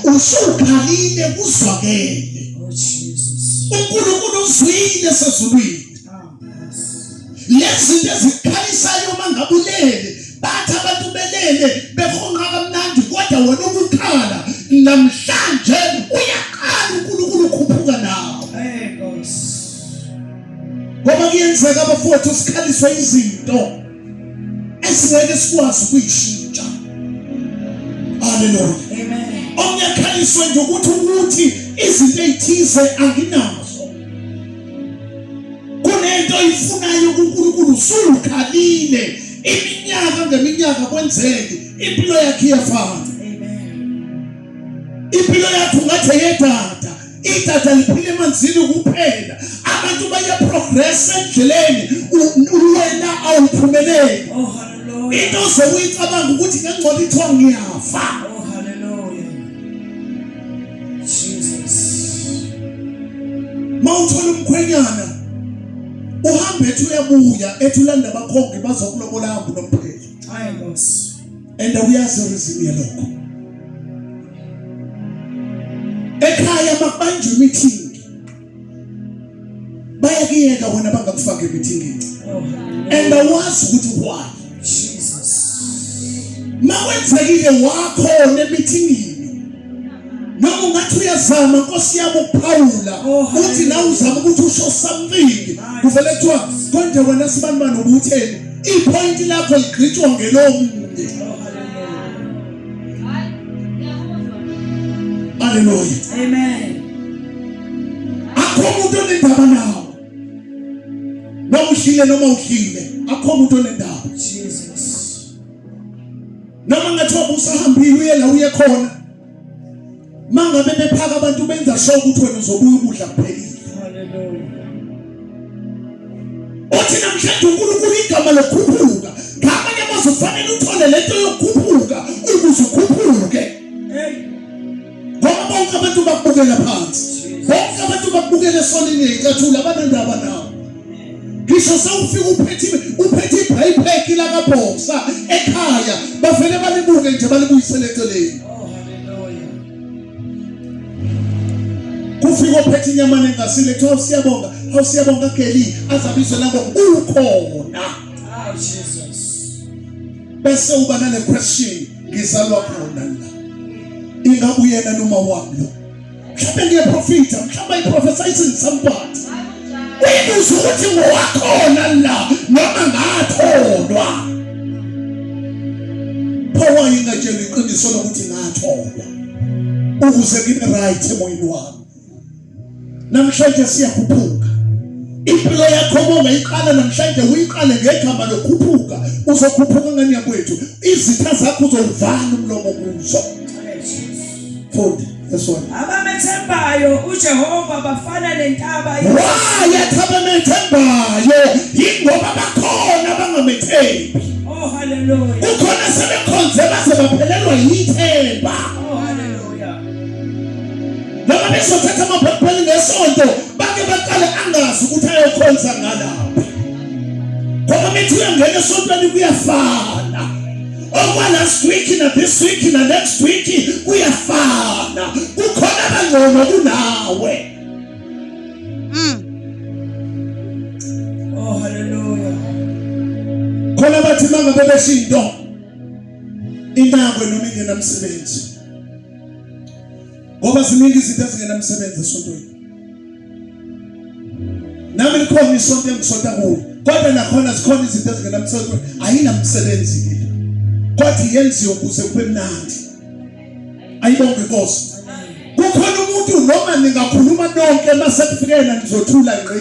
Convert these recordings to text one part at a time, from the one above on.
usukhalile kuzwakele oh, uNkulunkulu uzwile sezulwini lezinto ezikhalisayo uma ngabulele bathi abantu belele behonqa kamnandi kodwa wena ukukhala namhlanje uyaqala uNkulunkulu ukhuphuka nawo ngoba kuyenzeka abafowethu sikhaliswe izinto esingeke sikwazi ukuyishintsha haleluya omnye akhaliswe nje ukuthi ukuthi izinto ezithize anginazo kunento oyifunayo kuNkulunkulu usukhalile iminyaka ngeminyaka kwenzeke impilo yakhe iyafana impilo yakhe ungathi yedada idatha liphila emanzini kuphela abantu bayaprogressa endleleni wena awuphumeleli oh, into ze uyicabanga ukuthi ngengcola ithiwa ngiyafa oh, mawuthola umkhwenyana uhambe ethi uyabuya ethi ulanda abakhongi bazokulobola hambu nompheli hayi nkosi and uyazi reason yalokho ekhaya makubanjwa imithingi bayakuyeka wena bangakufaka emithingini and awazi ukuthi why Jesus makwenzekile wakho nemithingini noma ungathi uyazama nkosi yami ukuphawula oh, uthi nawe uzama ukuthi usho something kuvele kuthiwa konje wena sibani bani ubutheni ipoint lakho ligqitshwa ngelomunye haleluya amen akho umuntu onendaba nawo noma uhlile noma uhlile akho umuntu onendaba jesus noma ngathiwa busahambile uye la uye khona mangabe bephaka abantu benza sho ukuthi wena uzobuya ukudla kuphelile othi namhlanje unkulunkulu igama lokukhuphuka ngamanye amazwi ufanele uthole lento yokukhuphuka ukuze ukhuphuke ngoba bonke abantu bakubukela phansi bonke abantu bakubukela esonini ngeyinkathula abanendaba nawo ngisho sewufika uphethe uphethe ibhayibheki lakabhoksa ekhaya bavele balibuke nje balibuyisele eceleni kufika ophethe inyama nengasile kuthiwa siyabonga awu siyabonga geli azabizwe nango ukhona bese uba nale question ngizalwa khona la ingabe uyena noma wami lo mhlawumbe ngiyaprofitha mhlawumbe i prophesizing somebody uyibuza ukuthi ngowakhona la noma ngatholwa phowa ingatshela iqiniso lokuthi ngatholwa ukuze ngibe right emoyeni wami namhlanje siyakhuphuka impilo yakho mongayiqala namhlanje uyiqale ngegama lokhuphuka uzokhuphuka ngani yakwethu izitha zakho uzowuvala umlomo kuzo fundi esona abamethembayo ujehova bafana nentaba waya abamethembayo yingoba bakhona bangamethembi oh haleluya kukhona sebekhonze base baphelelwa yithemba noma bezothatha amabhayibheli ngesonto bake baqale angazi ukuthi ayokhonza ngalaphi khona mithi uyangena esontweni kuyafana okwa last week na this week na next week kuyafana kukhona abangcono kunawe mm. oh haleluya khona bathi mangabe beshinto inakwe noma ingenamsebenzi ngoba ziningi izinto ezingenamsebenzi esontweni nami likhona isonto engisonta kuyo kodwa nakhona zikhona izinto ezingenamsebenzi ayinamsebenzi kithi kwathi yenziwe ukuze kube mnandi ayibonge inkosi kukhona umuntu noma ningakhuluma nonke masekufike yena nizothula ngqi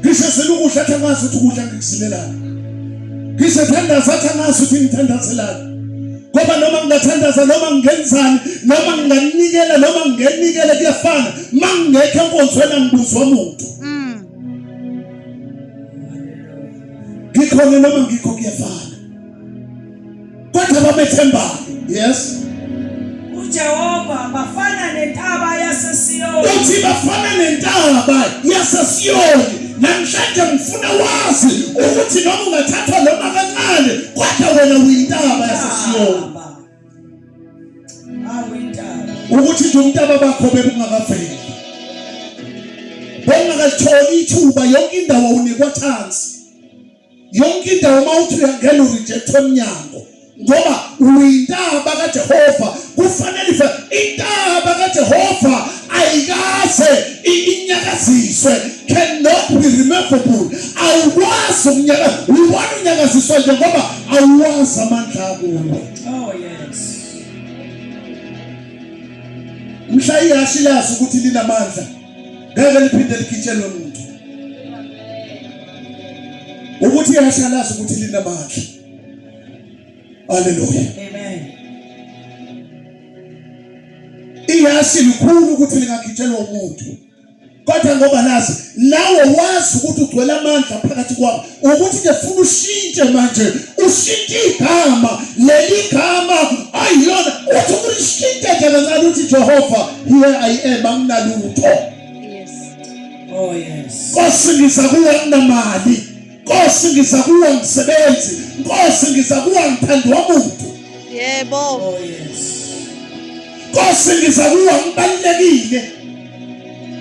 Ngisho selukudla athi angazi ukuthi ukudla ngikusilelani. Ngisho thandaza athi angazi ukuthi ngithandazelani. Ngoba noma ngingathandaza noma ngingenzani noma nginganikela noma ngingenikele kuyafana. Mangingekho enkonzweni angibuzwa umuntu. Mm. Ngikhona noma ngikho kuyafana. kodwa bamethembayo yes uJehova bafana nentaba yaseSiyoni uthi bafana nentaba yaseSiyoni namhlanje ngifuna wazi ukuthi noma ungathathwa noma kancane kodwa wena uyintaba yaseSiyoni ukuthi nje umntaba bakho bebungakaveli bongakatholi ithuba yonke indawo unikwa chance yonke indawo uma uthi uyangena urijectwe emnyango ngoba uyintaba kajehova kufanele ife intaba kajehova ayikaze inyakaziswe cannot be removable awukwazi ukunyaka ubona unyakaziswa nje ngoba awuwazi amandla akuwo oh, mhla ihashi lazi ukuthi linamandla ngeke liphinde likhitshelwe muntu ukuthi yashalaza ukuthi linamandla haleluya amen iyasi likhulu ukuthi lingagitshelwa umuntu kodwa ngoba nazi nawe wazi ukuthi ugcwele amandla phakathi kwakho ukuthi ke funa ushintshe manje ushintshe igama leli gama ayilona uthi ulishintshe nje kancane uthi Jehova here i am anginalutho Oh, nkosi ngiza kuwe nginamali nkosi ngiza kuwe ngisebenzi nkosi ngiza kuwe ngithandwa muntu yebo oh, nkosi ngiza kuwe ngibalulekile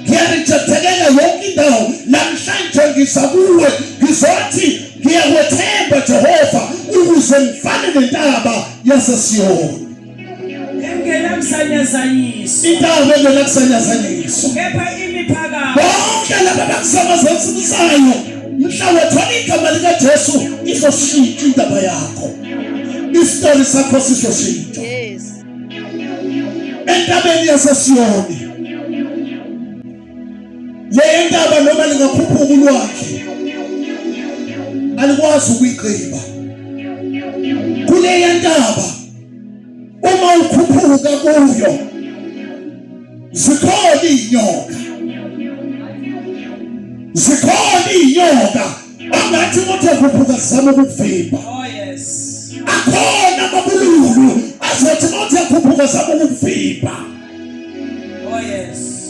ngiyarejethekela yonke indawo namhlanje ngiza kuwe ngizothi ngiyakwethemba jehova ukuze ngifane nentaba yasesiyoni engenakusanyazanyisa intaba engenakusanyazanyisa kepha imiphakamo bonke laba bakusamazazisayo mhlawumbe thola igama likajesu izoshintsha indaba yakho isitori sakho sizoshintsha entabeni yasesiyoni le ntaba noma lingakhuphuka ulwakhe alikwazi ukuyigqiba kuleya ntaba uma ukhuphuka kuyo zikhona iy'nyoka zikhona iy'nyoka angathi ukuthi ekhuphuka zizama ukukuvimba oh, akhona amabululu azothi uma uthi ekhuphuka zizama ukukuvimba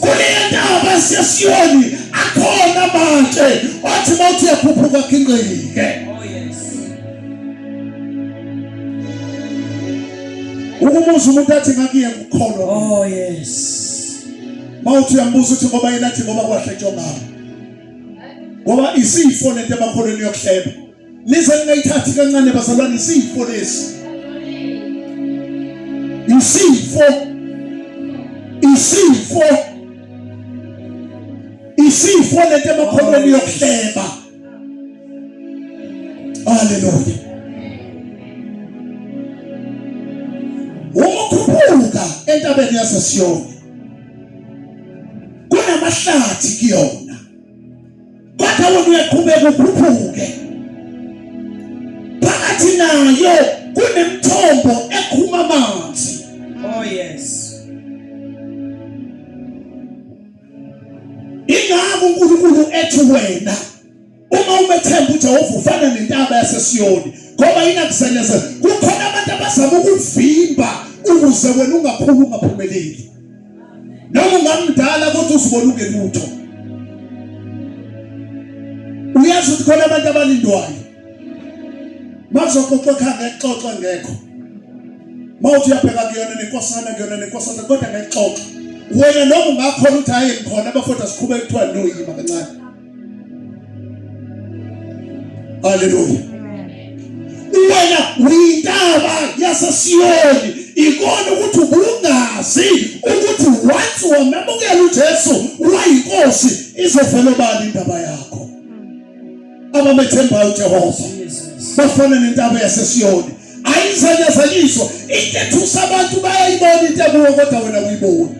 kuleyendawo basesiyoni akhona amatshe wathi uma uthi uyaphupha kwakhe ingqike ukumuza umuntu athi ngakuye ngukholwa oh yes mawuthi uyambuza ukuthi ngoba yena athi ngoba kwahle ntshongama ngoba isifo lento emakholweni yokuhleba Nize ningayithathi kancane bazalwane isifo lesi. Isifo. Isifo. Isifo lento emakholweni yokuhleba. Hallelujah. Ukukhuphuka entabeni yaseSiyoni kunamahlathi kuyona. Kwathi wona uyaqhubeka ukhuphuke. Phakathi nayo kunemthombo ekhuma amanzi. Oh yes. Ingakho uNkulunkulu ethi wena uma umethemba uJehova ufana nentaba yaseSiyoni ngoba inakuselezela. Kukhona abantu abazama ukuvimba ukuze wena ungakhulu ungaphumeleli. noma ungamdala kodwa uzibona ungelutho uyazi ukuthi khona abantu abalindwayo mazoxoxa ekhaya ngexoxa ngekho mawuthi uyabheka kuyona nenkosana kuyona nenkosana kodwa ngexoxa wena noma ungakhona ukuthi hayi ngikhona abafowethu asikhubeke kuthiwa noyima kancane Haleluya. Wena uyintaba yaseSiyoni ikona ukuthi ubungazi ukuthi once wamemukela uJesu wayinkosi izovela bani indaba yakho. Abamethembayo uJehova bafana nentaba yaseSiyoni ayizanyazanyiswa into ethusa abantu bayayibona into ekuwo kodwa wena uyibona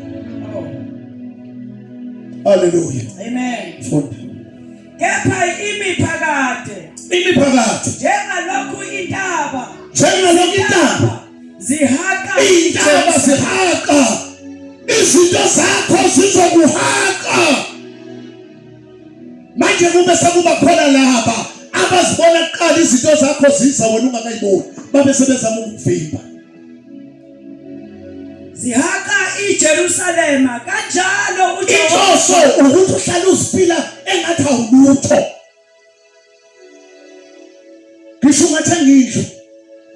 haleluya amen funda kepha imiphakade imiphakade njengalokhu intaba njengalokhu intaba zihaqa intaba zihaqa izinto zakho zizokuhaqa manje kube sekuba khona laba abazibona kuqala izinto zakho ziza wena ungakayiboni babe sebezama ukuvimba zihaka iJerusalema kanjalo uJehova ukuthi uhlale usiphila engathi awulutho ngisho ungathi angindlu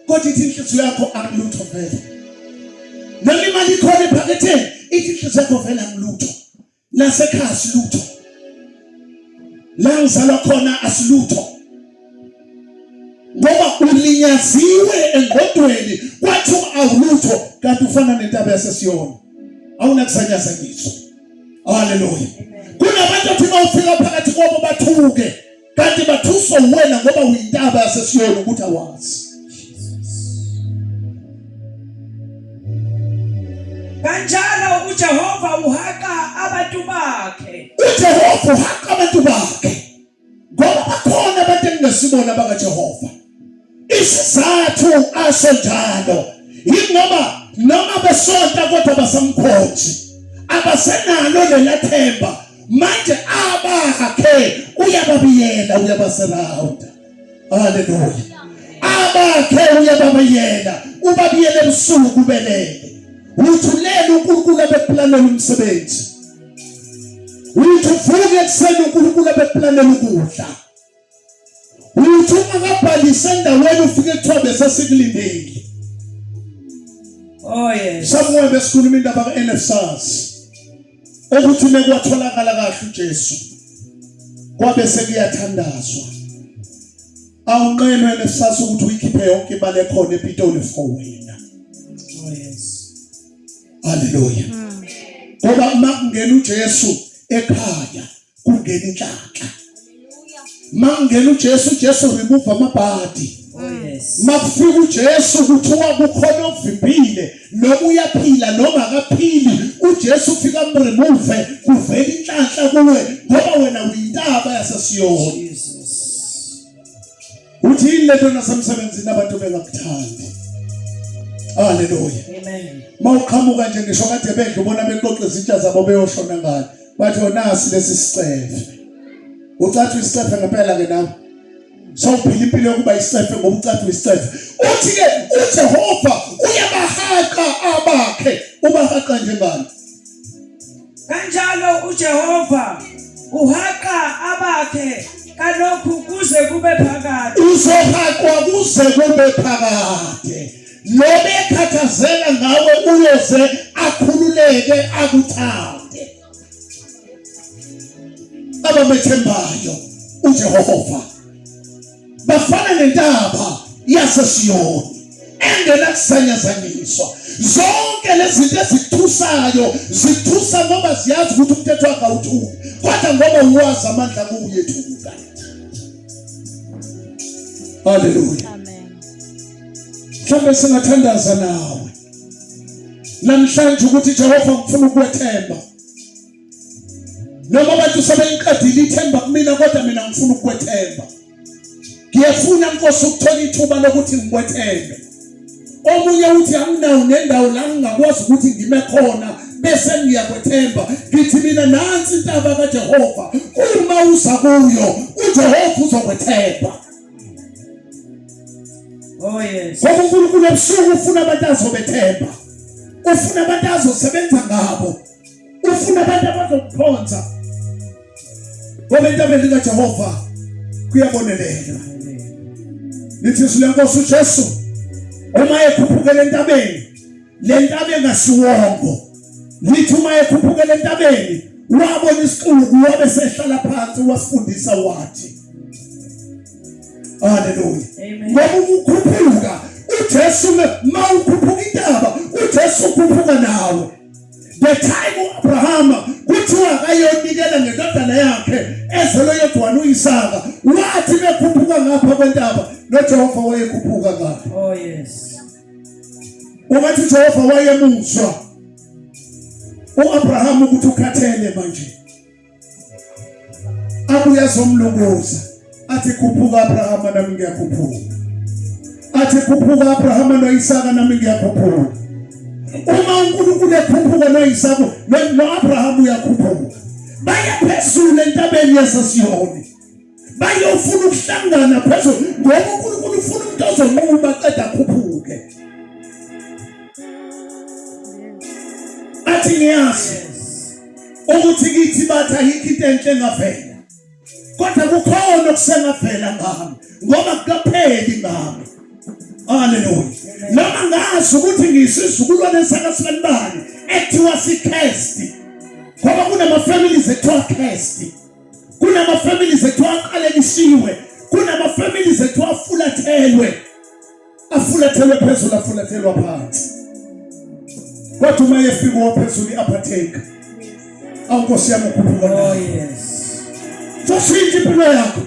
kodwa ithi inhliziyo yakho akulutho vele noma imali ikhona ephaketheni ithi inhliziyo yakho vele akulutho lasekhaya asilutho la ngizalwa khona asilutho ngoba ulinyaziwe engqondweni kwathi awulutho kanti ufana nentaba yasesiyona awunakusanyaza ngizwe haleluya kunabantu othi bawufika phakathi kwabo bathuke kanti bathuswa uwena ngoba uyintaba yasesiyona ukuthi awazi kanjalo ujehova uhaqa abantu bakhe ujehova uhaqa abantu bakhe ngoba bakhona abantu engingasibona bakajehova Isizathu asho njalo yingoba noma besonta kodwa basamkhonji abasenalo lelathemba manje abakhe uyababiyela uyabasurrounda haleluya abakhe uyababiyela ubabiyele ebusuku ubelele uthulele uNkulunkulu abeplanela umsebenzi uthi uvuke ekuseni uNkulunkulu abeplanela ukudla uthi uma kabhalise endaweni ufike kuthiwa besesikulindile oh yes somewhere besikhuluma indaba ku-nfsas ukuthi mekwatholakala kahle ujesu kwabe sekuyathandazwa awunqenwe nefsas ukuthi uyikhiphe yonke imali ekhona epitoli for wena oh yes haleluya ngoba uma kungena ujesu ekhaya kungena inhlanhla mangena uJesu uJesu remove amabhadi makufika uJesu kuthiwa kukhona ovimbile noma uyaphila noma akaphili uJesu ufika mremove kuvela inhlanhla kuwe ngoba wena uyintaba yasesiyoni Uthini lento nasemsebenzini abantu bengakuthandi? Haleluya. Amen. Mawuqhamuka nje ngisho kade bedla ubona bexoxa izitsha zabo beyoshona ngani. Bathi onasi oh, lesi sicefe. Ucathi isicefe ngempela ke nawe. Sawuphila impilo yokuba isicefe ngoba ucathi isicefe. Uthi ke uJehova uyabahaqa abakhe. Ubahaqa njengani? Kanjalo uJehova uhaqa abakhe kalokhu kuze kube phakade. Uzohaqwa kuze kube phakade. Lo bekhathazela ngawe uyoze akhululeke akuthande. Abamethembayo uJehova bafana nentaba yasesiyoni engenakuzanyazanyiswa zonke lezi zinto ezithusayo zithusa ngoba ziyazi ukuthi umthetho wakhe awuthuki kodwa ngoba uwazi amandla kuwuyethuka haleluya mhlawumbe singathandaza nawe namhlanje ukuthi jehova ngifuna ukwethemba noma abantu sebengiqedile ithemba kumina kodwa mina ngifuna ukukwethemba ngiyefuna nkosi ukuthola ithuba lokuthi ngikwethembe omunye uthi anginawo nendawo la ngingakwazi ukuthi ngime khona bese ngiyakwethemba ngithi mina nansi intaba kaJehova uma uza kuyo uJehova uzokwethemba Oh yes. Ngoba uNkulunkulu ebusuku ufuna abantu azobethemba. Ufuna abantu azosebenza ngabo. ufuna abantu abazokuphonsa ngoba entabeni likajehova kuyabonelelwa lithi izwi lenkosi ujesu uma ekhuphukela entabeni le ntaba engasiwongo lithi uma ekhuphukela entabeni wabona isixuku wabe sehlala phansi wasifundisa wathi haleluya ngoba ukukhuphuka ujesu ma ukhuphuka intaba ujesu ukhuphuka nawe the time uAbrahama kuthiwa akayonikela ngendodana yakhe ezelwe yedwana uIsaka wathi bekhuphuka ngapha kwentaba noJehova wayekhuphuka ngapha oh yes ungathi uJehova wayemuzwa uAbrahama ukuthi ukhathele manje abuye azomlunguza athi khuphuka Abrahama nami ngiyakhuphuka athi khuphuka Abrahama noIsaka nami ngiyakhuphuka uma uNkulunkulu ekhuphuka noIsaka noAbrahama uyakhuphuka baye phezulu entabeni yaseSiyoni manje ufuna ukuhlangana phezulu ngoba unkulunkulu ufuna umuntu ozonquma qeda akhuphuke athi ngiyazi ukuthi kithi bathi ayikho into enhle engavela kodwa kukhona okusengavela ngami ngoba kukapheli ngami haleluya noma ngazi ukuthi ngiyisizukulwane sakasilibani ekuthiwa sikhesti ngoba kunama-families ekuthiwa khesti kunama families ethu aqalekisiwe kunama families ethu afulathelwe afulathelwe phezulu afulathelwa phansi kodwa uma yefika waphezulu i-aphatheka awunkosi yami ukhuphuka nayo oh, soshintsha impilo yakho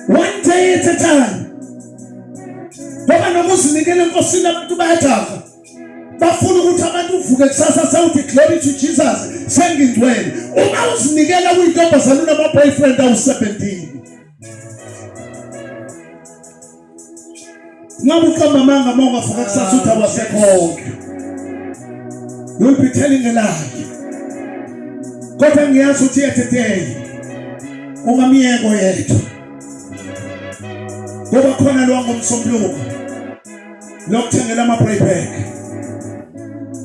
one day at a time ngoba noma uzinikele enkosini abantu bayajaha bafuna ukuthi abantu uvuke kusasa sewuthi glory to Jesus sengingcwele uma uzinikela uyintombazana unama-boyfriend awu-17 ngabe uqamba amanga uma ungavuka kusasa uthi awasekhonke you'll be telling a lie kodwa ngiyazi ukuthi yetheteyi ungamyeko yethu ngoba khona lwangomsombuluko lokuthengela ama playback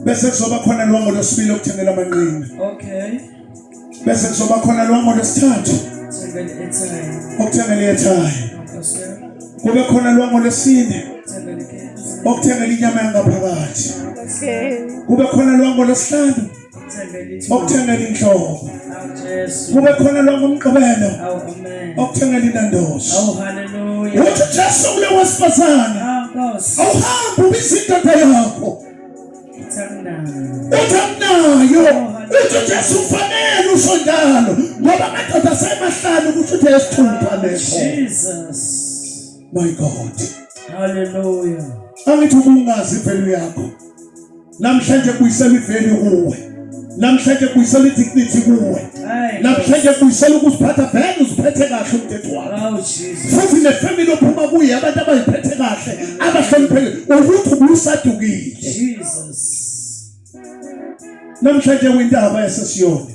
bese kuzoba khona longo losibili lokuthengela amanqina okay bese kuzoba khona longo losithathu okuthengela ethaya kube khona longo lesine okuthengela inyama yangaphakathi kube khona longo lesihlanu okuthengela inhlobo kube khona lonke umgqibelo okuthengela inandoso uthi jesu kule wesifazane awuhambe ubiza indoda yakho uthi akunayo uthi jesu ufanele usho njalo ngoba amadoda asemahlanu ukuthi uthe esithupha leso my god haleluya angithi ubungazi impelo yakho namhlanje buyisela iveli kuwe namhlanje buyisela idignity kuwe namhlanje buyisela ukuziphatha vele uziphethe kahle umthetho wakho oh, futhi nefamily ophuma kuye abantu abayiphethe kahle abahloniphekile ukuthi ubusadukile namhlanje windaba yasesiyoni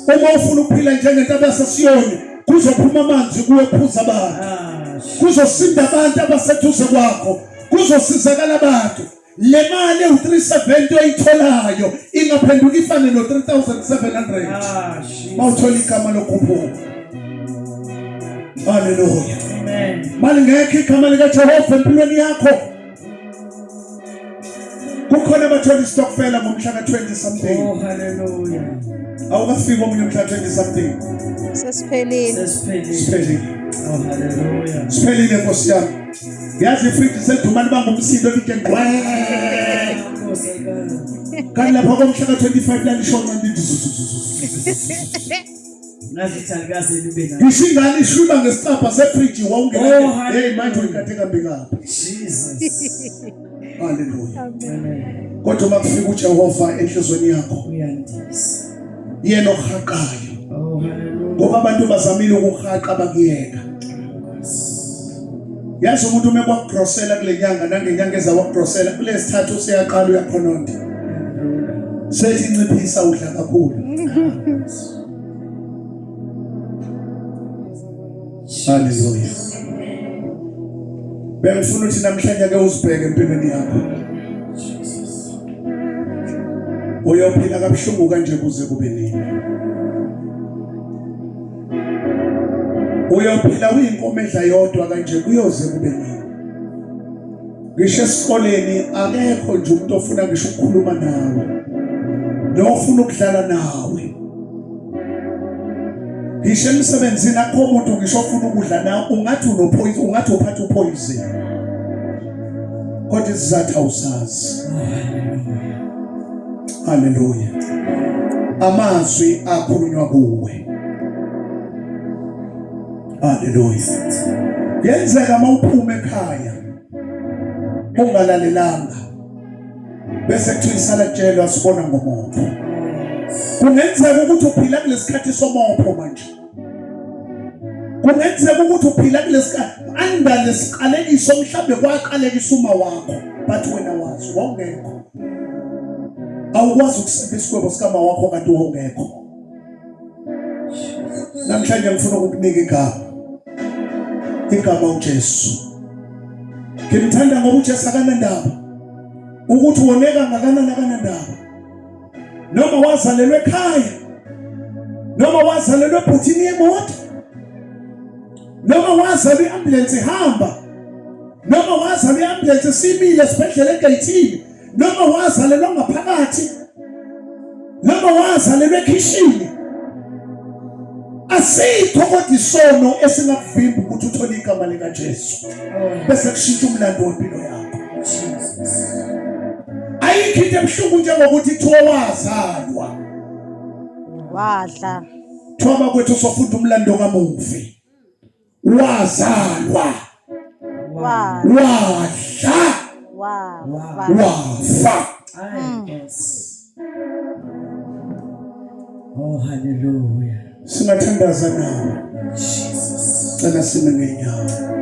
uma ufuna ukuphila njengento abasesiyoni kuzophuma amanzi kuwe phuza abantu ah, kuzosinda abantu abaseduze kwakho kuzosizakala abantu le mali ewu-370 oyitholayo ingaphenduka ifane no-3700 mawuthola igama lokhuphuka haleluya malingekho igama likajehova empilweni yakho kukhona abathola isitokfela ngomhla ka-20 something oh, haleluya awukafiki omunye umhla 20 something sesiphelile sesiphelile oh, siphelile nkosi yami yazi ifriji selidumane bangumsindo lide ngqwe kanti lapha komhla ka-25 lalishona ndithi ngisho ingane ishwiba ngesicabha sefriji wawungenaeyi oh, manje uyikade kambi kabi Haleluya. Kodwa uma kufika uJehova enhlizweni yakho uyandisa. Yena ohaqayo. Oh haleluya. Ngoba abantu bazamile ukuhaqa bakuyeka. Yazi umuntu uma kwakugrosela kule nyanga nangenyanga eza wakugrosela kulesithathu useyaqala uyakhononda. Sethi nciphisa udla kakhulu. Hallelujah. Bengifuna ukuthi namhlanje ke uzibheke empilweni yakho. Uyophila kabuhlungu kanje kuze kube nini? Uyophila uyinkomo edla yodwa kanje kuyoze kube nini? ngisho esikoleni akekho nje umuntu ofuna ngisho ukukhuluma nawe nofuna ukudlala nawe ngisho emsebenzini akho umuntu ngisho ofuna ukudla nawe ungathi unophoyizini ungathi uphatha uphoyizini kodwa isizathu awusazi haleluya amazwi akhulunywa kuwe haleluya yenzeka mawuphuma ekhaya ungalalelanga bese kuthiwa isalatshelwa sibona ngomuntu kungenzeka ukuthi uphila kulesikhathi somopho manje kungenzeka ukuthi uphila kulesikhathi anda lesiqalekiso mhlambe kwaqalekisa uma wakho but wena wazi wawungekho awukwazi ukusebenzisa isigwebo sikama wakho kanti wawungekho namhlanje ngifuna ukukunika igama igama uJesu ngimthanda ngoba uJesu akanandaba ukuthi woneka ngakanani akanandaba noma wazalelwe ekhaya noma wazalelwe ebhuthini yemoto noma wazalwa i-ambulensi ihamba noma wazalwa i-ambulensi simile esibhedlela egeyithini noma wazalelwa ngaphakathi noma wazalelwa ekhishini asikho kodwa isono esingakuvimba ukuthi uthole igama likaJesu bese kushintsha umlando wempilo yakho ayikho into ebuhlungu njengokuthi kuthiwa wazalwa wadla kuthiwa bakwethu sofunda umlando kamufi wazalwa wadla wafa mm. oh haleluya singathandaza nawe cela sime ngenyawo